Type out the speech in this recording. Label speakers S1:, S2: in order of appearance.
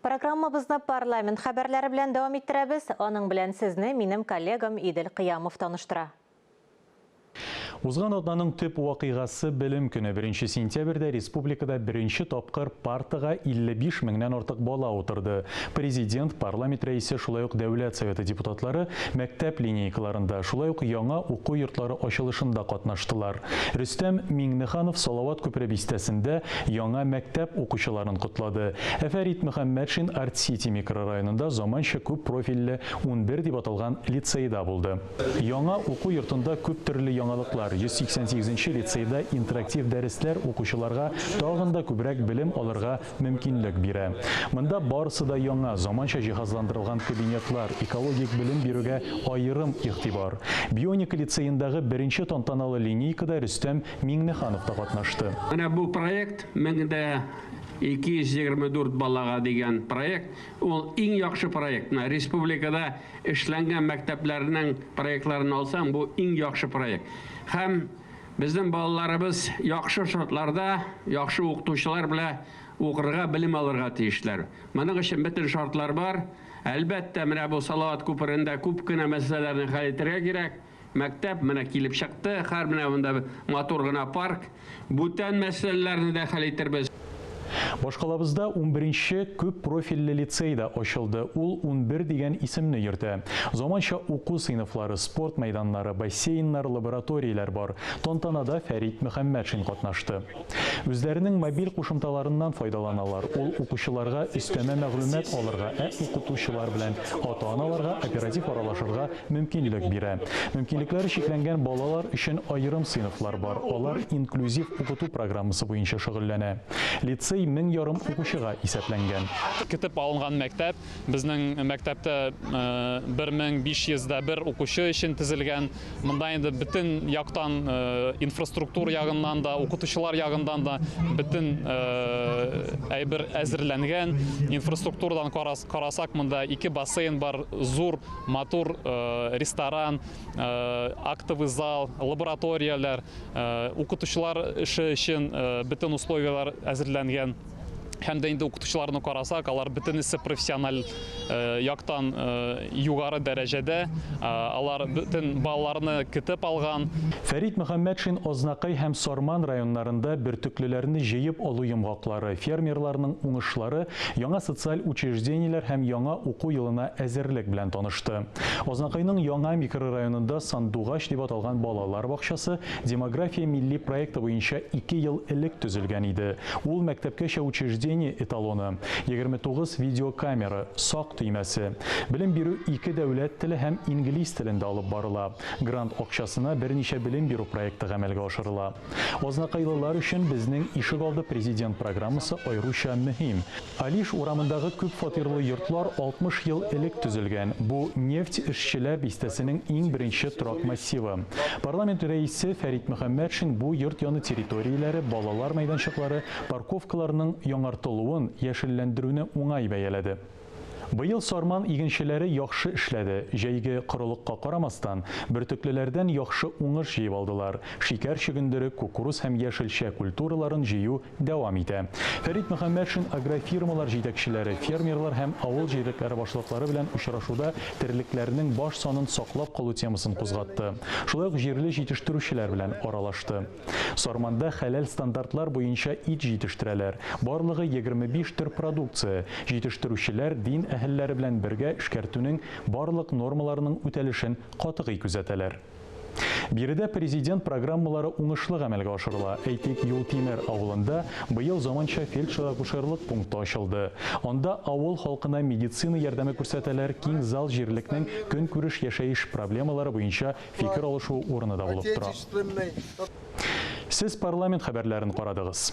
S1: Программабызны парламент хәбәрләре белән дәвам иттерәбез, аның белән сезне минем коллегам Идел Кыямов таныштыра.
S2: Узган атнаның төп вакыйгасы Белем көне, беренче сентябрьдә республикада беренче тапкыр партага 55 меңнән артык бала утырды. Президент, парламент рәисе, шулай ук Дәүләт Советы депутатлары мәктәп линейкаларында, шулай ук яңа уку йортлары ачылышында катнаштылар. Рөстәм Миңнеханов Салават күпере бистәсендә яңа мәктәп укучыларын котлады. Ә Фәрит Мөхәммәтшин Арт-Сити микрорайонында заманча күп профильле унбер дип аталган лицейда булды. Яңа уку йортында күп төрле яңалыклар, 188 нче лицейда интерактив дәресләр укучыларга тагын да күбрәк белем алырга мөмкинлек бирә. Монда барысы да яңа, заманча җиһазландырылган кабинетлар, экологик белем бирүгә аерым игътибар. Бионика лицеендагы беренче тантаналы линейкада Рөстәм Миңнеханов та катнашты. Менә бу проект,
S3: Мең дә 224 балага дигән проект, ул иң яхшы проект. Менә республикада эшләнгән мәктәпләрнең проектларын алсаң, бу иң яхшы проект. Һәм Безнең балаларыбыз яхшы шартларда, яхшы укытучылар белә укырга, белем алырга тиешләр. Моның өчен бөтен шартлар бар. Әлбәттә, менә бу Салават күперендә күп кенә мәсьәләләрне хәл итәргә кирәк. Мәктәп менә килеп чыкты, хәр менә монда матур гына парк. Бүтән мәсьәләләрне дә хәл итербез. Башкалабызда
S2: унберенче күп профильле лицей да ачылды, ул унбер дигән исемне йөртә. Заманча уку сыйныфлары, спорт мәйданнары, бассейннар, лабораторияләр бар. Тантанада Фәрит Мөхәммәтшин катнашты. Үзләренең мобиль кушымталарыннан файдаланалар, ул укучыларга өстәмә мәгълүмат алырга, ә укытучылар белән ата-аналарга оператив аралашырга мөмкинлек бирә. Мөмкинлекләре чикләнгән балалар өчен аерым сыйныфлар бар, алар инклюзив укыту программасы буенча шөгыльләнә. Лицей мең ярым укучыга исәпләнгән. Көтеп алынган
S4: мәктәп безнең мәктәптә 1501 укучы өчен төзелгән. Монда инде бөтен яктан, инфраструктура ягыннан да, укытучылар ягыннан да бөтен әйбер әзерләнгән. Инфраструктурадан карасак, монда ике бассейн бар, зур. матур э, ресторан, э, актовый зал, лабораторияләр, э, укытучылар эше өчен бөтен условияләр әзерләнгән һәм дә инде укытучыларны карасак алар бөтенесе профессиональ э, яктан э, югары дәрәҗәдә э, алар бөтен балаларны көтеп алган фәрит мөхәммәтшин
S2: ознакай һәм сарман районнарында бөртеклеләрне җыеп алу йомгаклары фермерларның уңышлары яңа социаль учреждениеләр һәм яңа уку елына әзерлек белән танышты. Азнакайның Яңа микрорайонында Сандугач дип аталган балалар бакчасы Демография милли проекты буенча ике ел элек төзелгән иде. Ул, мәктәпкәчә учреждение эталоны, 29 видеокамера, сак төймәсе. Белем бирү ике дәүләт теле һәм инглиз телендә алып барыла. Грант акчасына берничә белем бирү проекты гамәлгә ашырыла. Азнакайлылар өчен Безнең ишегалды президент программасы аеруча мөһим. Алиш урамындагы күп фатирлы йортлар 60 ел элек төзелгән. Бу, нефть эшчеләр бистәсенең иң беренче торак массивы. Парламент рәисе Фәрит Мөхәммәтшин бу йорт яны территорияләре, балалар мәйданчыклары, парковкаларның яңартылуын, яшелләндерүне уңай бәяләде. Быел Сарман игенчеләре яхшы эшләде. Җәйге корылыкка карамастан, бөртеклеләрдән яхшы уңыш җыеп алдылар. Шикәр чөгендере, кукуруз һәм яшелчә культураларын җыю дәвам итә. Фәрит Мөхәммәтшин агрофирмалар җитәкчеләре, фермерлар һәм авыл җирлекләре башлыклары белән очрашуда терлекләрнең баш санын саклап калу темасын кузгатты. Шулай ук җирле җитештерүчеләр белән аралашты. Сарманда хәләл стандартлар буенча ит җитештерәләр. Барлыгы егерме биш төр продукция. Җитештерүчеләр дин әһелләре белән бергә эшкәртүнең барлык нормаларының үтәлешен катгый күзәтәләр. Биредә Президент программалары уңышлы гамәлгә ашырыла. Әйтик, Юлтимер авылында быел заманча фельдшер-акушерлык пункты ачылды. Анда авыл халкына медицина ярдәме күрсәтәләр, киң зал җирлекнең көнкүреш-яшәеш проблемалары буенча фикер алышу урыны да булып тора. Сез парламент хәбәрләрен карадыгыз.